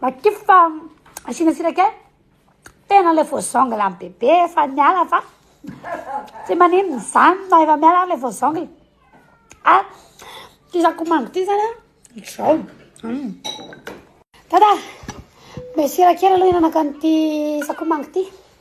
Matify fa asiana sira kely. Tena ilay vao zangle an'i bebe efa niala fa tsy maninona izany na efa miala ary ilay vao zangle. Ah, ity sakomango ity izany an, izao. Mm. Dada, mbe sira kely aloha hihinanako an'ity sakomango ity.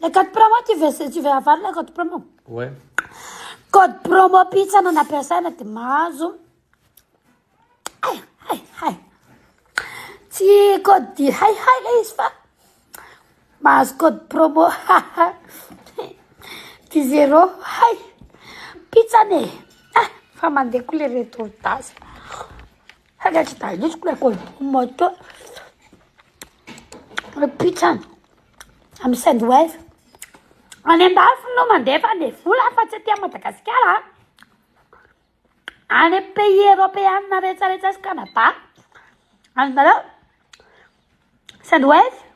Le code promo tu veux tu veux avoir le code promo Ouais. Code promo pizza no nampiasaina de mahazo. Hay hay hay. Tsy code di hay hay le izy fa mahazo code promo. Di zero hay. Pizza ne. Ah, fa mandeha koa le retour d'as. Haka tsy balisiko la koa moto Pitrany Am send wave Any andafy no mandefa any vola fa tsy aty Madagasikara Any pays européenne rehetra rehetra sy Canada Azonareo Send wave